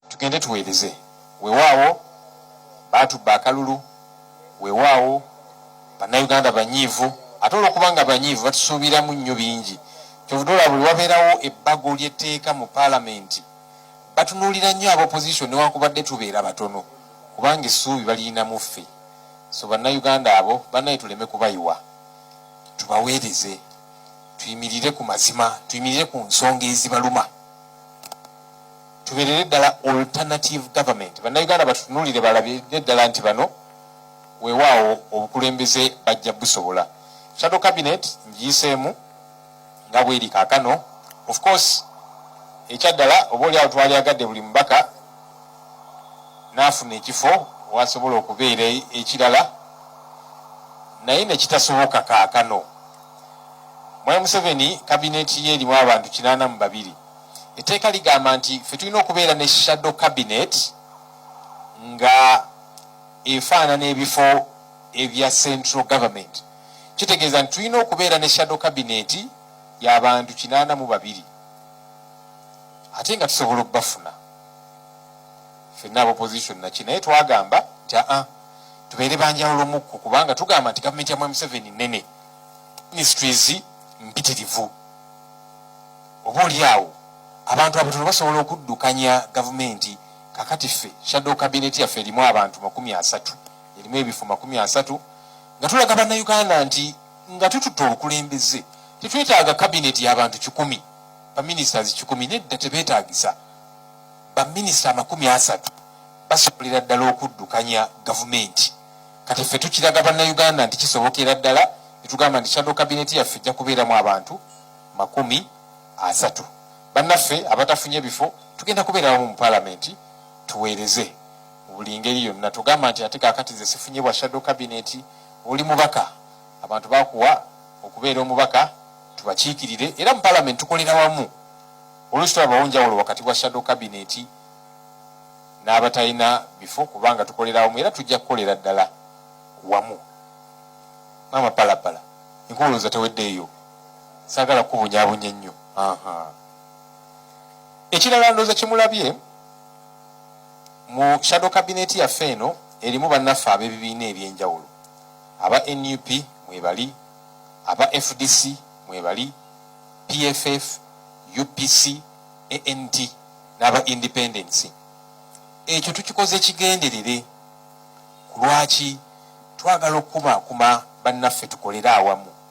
tugende tuweereze wewaawo baatubba akalulu wewaawo bannayuganda banyiivu ate olwokubanga banyiivu batusuubiramu nnyo bingi kyovudola buli wabeerawo ebbago lyetteeka mu paalamenti batunuulira nnyo aba opposition newankubadde tubeera batono kubanga essuubi baliyina mu ffe so bannayuganda abo banaye tuleme kubayiwa tubaweereze tuyimirire ku mazima tuyimirire ku nsonga ezibaluma tuberere ddala alternative government bannayuganda batutunulire balabire ddala nti bano wewaawo obukulembeze bajja busobola shadow cabinet ngiyiseemu nga bweri kakano of course ekyaddala oba oli awo twali agadde buli mubaka naafuna ekifo wasobola okubeera e-, ekirala naye nekitasoboka kakano mwai museveni kabineti ye erimu abantu kinaana mu babiri etteeka ligamba nti fe tulina okubeera ne shadow cabinet nga efaanana ebifo ebya central government kitegeeza nti tulina okubeera ne shadow cabinet yabantu kinaana mu babiri ate nga tusobola okubafuna fenna aba opposition naki naye twagamba nti aa ah, tubeere banjawulo mukku kubanga tugamba nti gavumenti ya mwamuseveni nene ministries mpitirivu oba oli awo abantu abatono basobola okuddukanya gavumenti kakati ffe shadow kabineti yaffe erimu abantu makumi asatu erimu ebifo makumi asatu nga tulaga bannayuganda nti nga tututte obukulembeze tetwetaaga kabineti y'abantu kikumi baminisiters kikumi nedda tebeetagisa baminisita amakumi asatu basobolera ddala okuddukanya gavumenti kati ffe tukiraga bannayuganda nti kisobokera ddala netugamba nti shadow kabineti yaffe ejja kubeeramu abantu makumi asatu bannaffe abatafunye bifo tugenda kubeera wamu mu palamenti tuweereze mu buli ngeri yonna tugamba nti ate kakati ze sifunye bwa shadow kabineti oli mubaka abantu bakuwa okubeera omubaka tubakiikirire era mu palamenti tukolera wamu oluusi tulabawo njawulo wakati wa shadow kabineti n'abatalina bifo kubanga tukolera wamu era tujja kukolera ddala wamu maama palapala enkuwulooza teweddeeyo sagala kubunyabunya ennyo ekirala ndooza kimulabye mu shadow cabinet yaffe eno erimu bannaffe ab'ebibiina ebyenjawulo aba nup mwebali aba fdc mwebali pff upc ant n'aba independency ekyo tukikoze kigenderere kulwaki twagala okukuma kuma bannaffe tukolere awamu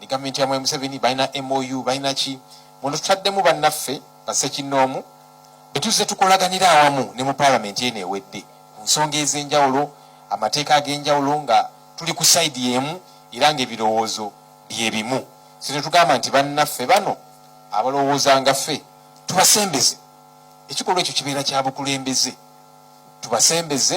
ne gavumenti ya Mwami Museveni balina MOU balina ki muno tutaddemu bannaffe bassekinnoomu be tuzze tukolaganira awamu ne mu paalamenti eno ewedde ku nsonga ez'enjawulo amateeka ag'enjawulo nga tuli ku sayidi y'emu era ng'ebirowoozo bye bimu si ne tugamba nti bannaffe bano abalowooza nga ffe tubasembeze ekikolwa ekyo kibeera kya bukulembeze tubasembeze